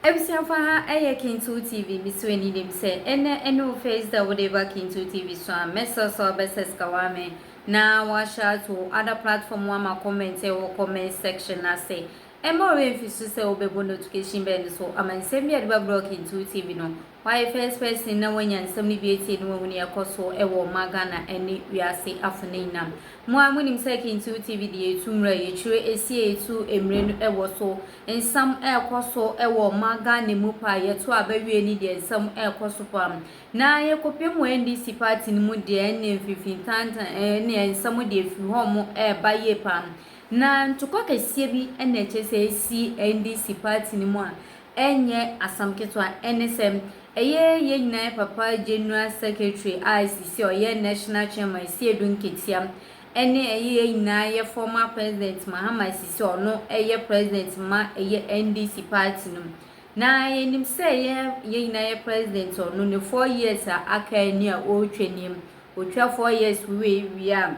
Abusuafo aha yɛ Kintu TV misu ani dem sɛ ɛnɛ ɛne wo face da wode ba Kintu TV so a mɛsrɛ sɛ wobɛ sɛskawa me na wahyɛ ato wo other platform wama comment ɛwɔ comment section no ase ɛma ɔwɛ mfi so sɛ wobɛbɔ notification bell no so ama nsɛm bi a yɛde bɛbrɛ wo Kintu TV no Why first person na wanya nsɛm no bi atie na wahu nea ɛkɔ so wɔ ɔma Ghana ne wiase afo no nyinaa mu. Mo ara monim sɛ Kintiw TV deɛ ɛtu mmere a yɛkyire ɛsi a ɛtu mmere no wɔ so. Nsɛm ɛrekɔ so wɔ ɔma Ghana mu paa, yɛto aba wie no deɛ nsɛm ɛrekɔ so paa. Na yɛkɔpem wɔ NDC party no mu deɛ ɛnneɛ mfinfintantan ɛnneɛ nsɛm deɛ ɛfiri hɔ mo ɛreba yie paa. Na ntokwa kɛseɛ bi na ɛkyerɛ sɛ ɛsi NDC party no mu a ɛnyɛ asɛm ketewa, ɛne sɛ, ɛyɛ yɛn nyinaa papa General Secretary a sisi a ɔyɛ National Chairman Seidu Nketia, ɛne ɛyɛ yɛn nyinaa yɛ former President Mahama a sisi a ɔno yɛ President ma ɛyɛ NDC party no mu. Na yɛnim sɛ yɛ yɛn nyinaa yɛ President ɔno ne four years a aka nie a ɔretwa nie, ɔtwa four years wei wie a,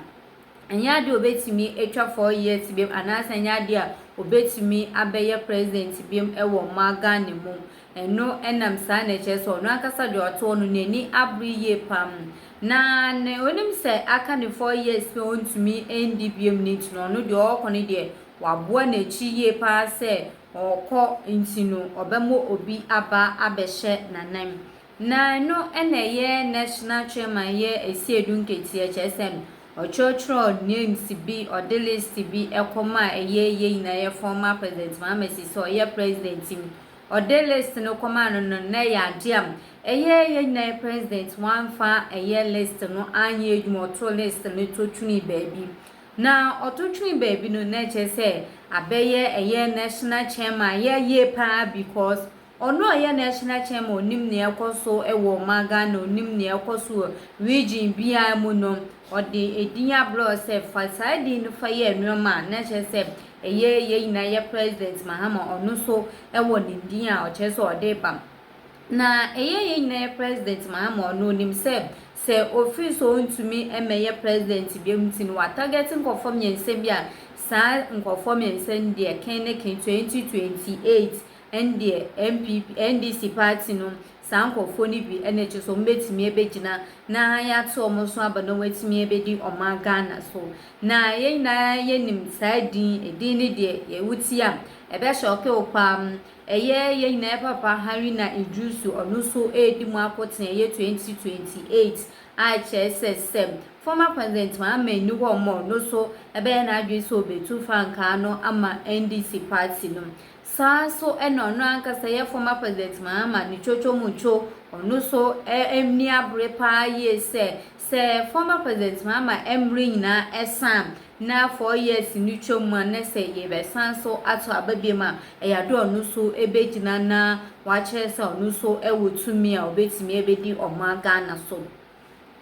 Ɛnyɛ adeɛ a ɔbɛtumi atwa four years biom anaasɛ ɛnyɛ adeɛ a ɔbɛtumi abɛyɛ president biom wɔ ɔman Ghana mu. Ɛno nam saa na ɛkyerɛ sɛ ɔno ankasa deɛ ɔte hɔ no n'ani abere yie pam. Na ne ɔnim sɛ aka ne four years pɛ ɔntumi ndi biom no nti no ɔno deɛ ɔɔkɔ no deɛ waboa n'akyi yie paa sɛ ɔɔkɔ nti no ɔbɛmɔ obi aba abɛhyɛ n'anan. Na ɛno na ɛyɛ National Chairman yɛ asiedu nketeɛ kyerɛ sɛ ɔkyerɛkyerɛw names bi ɔde list bi ɛkɔ maa ɛyɛ yɛ nyinaa yɛ fɔn maa President Mahama si sɛ ɔyɛ President mu ɔde list no kɔ maa no no na ɛyɛ adeɛ a ɛyɛ yɛ nyinaa yɛ President wamfa ɛyɛ list no anyɛ adwuma ɔto list no to twene baabi na ɔto twene baabi no na ɛkyerɛ sɛ abɛyɛ ɛyɛ National Chairman yɛ yie paa because Ɔno a ɔyɛ National Chairman a ɔnim nea ɛrekɔ so wɔ ɔman Ghana, ɔnim nea ɛrekɔ so wɔ region biara mu no, ɔde edin ablɔɔ sɛ fa saa edin no fa yɛ nnoɔma a na kyerɛ sɛ ɛyɛ yɛn nyinaa yɛ President Mahama ɔno nso wɔ ne din a ɔkyerɛ sɛ ɔde reba. Na ɛyɛ yɛn nyinaa yɛ President Mahama ɔno ɔnim sɛ sɛ ɔfiri so ɔntumi mmɛyɛ President bio nti no watarget nkorɔfoɔ mmiɛnsa bi a saa nkorɔfoɔ mmiɛnsa no deɛ ken ne ken 2028 Ɛndeɛ NPP, NDC party no, saa nkorɔfoɔ no bi na ɛkyerɛ sɛ wɔbɛtumi abɛgyina na yɛato wɔn so aba na wɔatumi abɛdi ɔman Ghana so. Na yɛn nyinaa yɛnim saa din, edin no deɛ yɛ wotie a ɛbɛ shock wo paa. Ɛyɛ yɛn nyinaa yɛ papa Harina Iddrisu, ɔno nso ɛredi mu akoten ɛyɛ 2028 a kyerɛ sɛ sɛ former president Mahama nni hɔ mɔ, ɔno nso ɛbɛyɛ n'adwene sɛ ɔbɛtu frankaa no ama NDC party no. Saa ara nso na ɔno ankasa yɛ former President Mahama ne twotwo mu two, ɔno nso nni abere pa ara yie sɛ, sɛ former President Mahama mmere nyinaa san na four years no twa mu a, na sɛ yɛbɛsan nso ato aba biom a, ɛyɛ ade a ɔno nso bɛgyina na wakyerɛ sɛ ɔno nso wɔ tumi a ɔbɛtumi abɛdi ɔman Ghana so.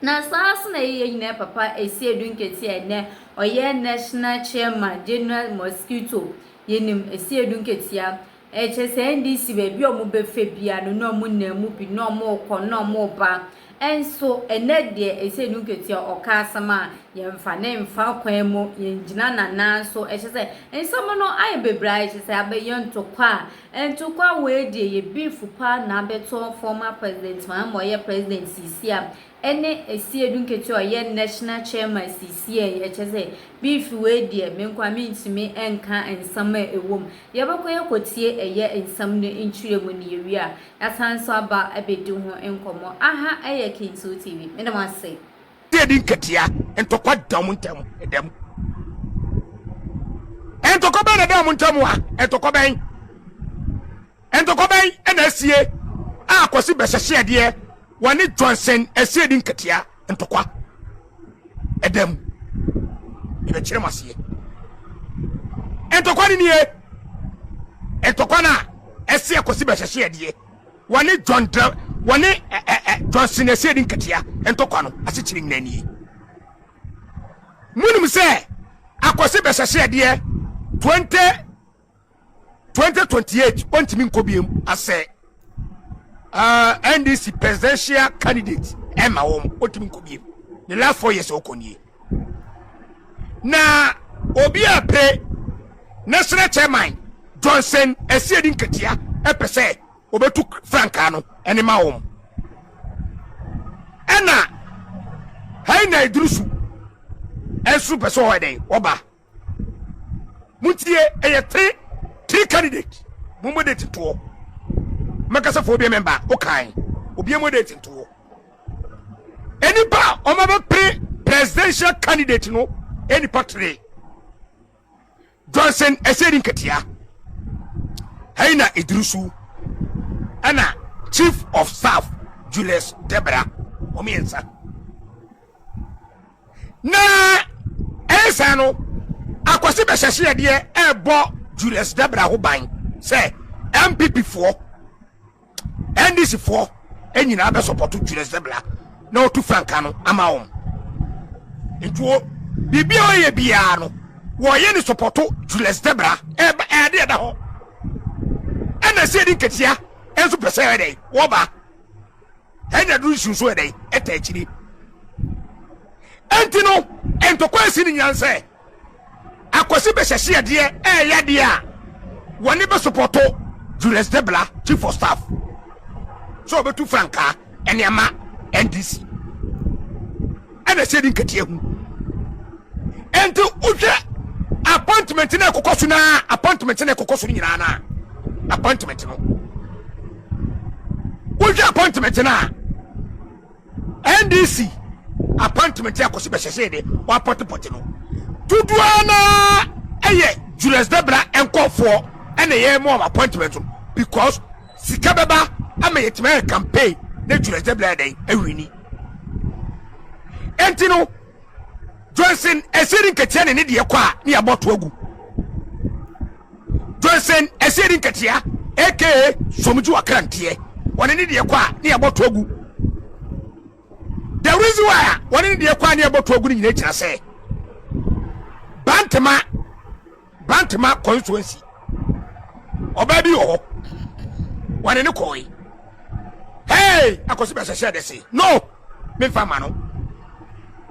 Na saa ara nso na yɛyɛ nyinaa papa ɛsi edu nketeɛ a ɛnɛ ɔyɛ national chairman general mosquito yɛnim ɛsi edu nketeɛ ɛkyɛ sɛ ndc baabi a wɔn bɛfɛ bia no na wɔn nam mu bi na wɔn kɔ na wɔn ba ɛnso ɛnɛ deɛ ɛsi edu nketeɛ ɔka asɛm a yɛn mfa ne mfa kwan mu yɛn gyina nanan so ɛkyɛ sɛ nsɛm no ayɛ bebree a ɛkyɛ sɛ abɛyɛ ntɔkwa a Ntokwa wei deɛ yɛ beef paa na abɛtɔ former president Mahama a ɔyɛ president seesie a ɛne Asiedu nketewa a ɔyɛ national chairman seesie yi ɛkyɛ sɛ beef wei deɛ me nkoa mentumi nka nsɛm a ɛwɔ mu yɛbɛkɔ yɛkɔtie ɛyɛ nsɛm no nkyerɛmu na yɛwie a yɛasan nso aba abɛdi ho nkɔmmɔ aha ɛyɛ Kinsul TV meda mo ase. Dɛ di nkatia, ntɔkwa da ɔmo ntam, ɛda mu. Ntɔkwa bɛn na ɛda ɔmo ntam a? Ntɔkwa bɛn? Ntɔkwa bɛn ɛna asie a Kwasi bɛhyɛhyɛ adeɛ wɔne Johnson asie di nkatia, ntɔkwa ɛda mu. Yɛbɛkyerɛ mo aseɛ. Ntɔkwa ne nie, ntɔkwa no a ɛseɛ Kwasi bɛhyɛhyɛ adeɛ Wɔne John Dra wɔne ɛ ɛ ɛ John Sinasia di nkatia ntɔkwa no asekyerɛ nyinaa nie. Monim sɛ akɔse bɛhyɛhyɛɛdeɛ 20 2028 ɔntumi nkɔ biam asɛ uh, NDC presidential candidate ɛma wɔn ɔntumi nkɔ biam ne last four years ɔkɔ nie na obi a pere national chairman Johnson Asiedi nkatia ɛpɛ sɛ wɔbɛtu frankaa no ne ma wɔn ɛna hɛn na ɛduru su ɛnso pɛ sɛ ɔyɛ dɛn ɔba montie ɛyɛ three three candidate mo mo de tetoɔ mɛkasafoɔ bi mɛmba wokae obiara mo de tetoɔ nnipa a wɔbɛpere presidential candidate no nnipa three Johnson ɛsɛ di nketea hɛyi na eduru so ɛna chief of staff Julius Debra wɔn mmiɛnsa na ɛyɛ saa no akwasi bɛhyɛhyɛ adeɛ ɛɛbɔ Julius Debra ho ban sɛ MPP foɔ. NDC foɔ nyinaa bɛ sɔpɔto Julius Bɛbla na ɔtu frankaa no ama wɔn. Nti wɔ biribi a ɔyɛ biara no wɔyɛ ne sɔpɔto Julius Bɛbla. Ɛba ɛade ɛda hɔ. Ɛna ɛsɛ ɛdi nketesia ɛnso pɛ sɛ ɛdɛ wɔba. Ɛnya duru nsu nso ɛdɛ ɛta akyiri. Ɛnti no ntɔkwa ɛsi ne nyinaa sɛ Akwasi bɛhyɛhyeɛ deɛ ɛɛyɛ adeɛ a wɔne bɛ sopɔto Julius Debla chief of staff sɛ ɔbɛtu frankaa ɛne ama NDC ɛna ɛsɛ di nkatia hu ɛnti wohwɛ appointment na ɛkokɔ so na appointment na ɛkokɔ so nyinaa na appointment no wohwɛ appointment na NDC appointment a Kwasi Bɛhyɛhyee de wɔapɔtepɔte no, dodoɔ ara no ara yɛ Julius Debra nkurɔfoɔ na ɛyɛ ma wɔn appointment no because sika bɛba ama yɛtumi ayɛ campaign na Julius Debra yɛ dɛn awini. Enti no, Johnson ɛsɛ ne nketeɛ ne ne deɛ kɔ a ne yɛabɔ to agu. Johnson Asiedi Nketeaa aka Somgye Ɔkranteɛ wɔne ne deɛ kɔ a ne yɛbɔ to agu. The reason why a wɔne ne deɛ kɔ a ne yɛbɔ to agu no nyinaa gyina sɛ Bantama Bantama constituency ɔbaa bi wɔ hɔ wɔne ne kɔɔe hey akɔsi bɛhyɛhyɛ dɛse no memfa ma no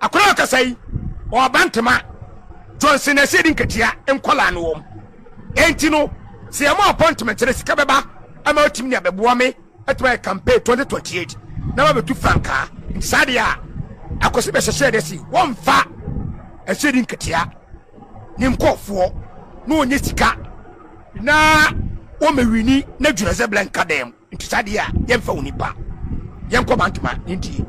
Akwadaa a ɔkasa yi, ɔba ntoma. Johnson na ɛsɛ yɛde nkatua nkwadaa no wɔm. Enti no, sɛ yɛma ɔpɔ ntoma nkyɛn sika bɛba ama watumi ne abɛboa me atumi ayɛ campaign 2028 na wabɛtu frankaa. Nti saa deɛ a, akwasi bɛhyɛhyɛ dɛ si wɔmfa ɛsɛ yɛde nkatua ne nkɔɔfoɔ na ɔnyɛ sika na wɔmɛwini na dwunazeblɛ nka dɛm. Nti saa deɛ a yɛmfa wo nipa yɛnkɔ Mantoma yɛntie.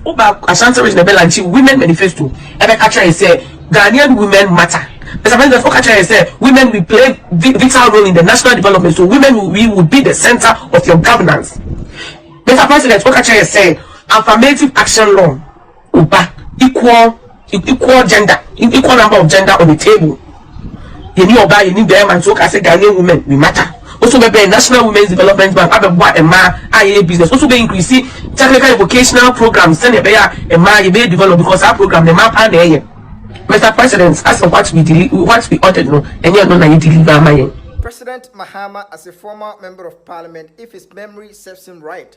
Woba Ashanti region ɛbɛ lanchi women manifesto ɛbɛ ka kyerɛ yɛ sɛ Ghanaian women matter. Mr President woka kyerɛ yɛ sɛ women we play vital role in the national development so women we would be the center of your governance. Mr President woka kyerɛ yɛ sɛ affirmative action law. Oba equal equal gender equal number of gender on the table yɛni ɔbaa yɛni bɛrima nti woka sɛ Ghanaian women we matter woso bɛbɛn National Women's Development Bank abɛboa mmaa a yɛyɛ business woso bɛ increase technical and vocational programs sɛnea ɛbɛyɛ a mmaa yɛbɛyɛ develop because saa program na mmaa paa na ɛyɛ Mr President asɛ what we deli what we ordered no ɛnyɛ no na yɛ deliver ama yɛn. President Mahama, as a former Member of Parliament, if his memory serves him right,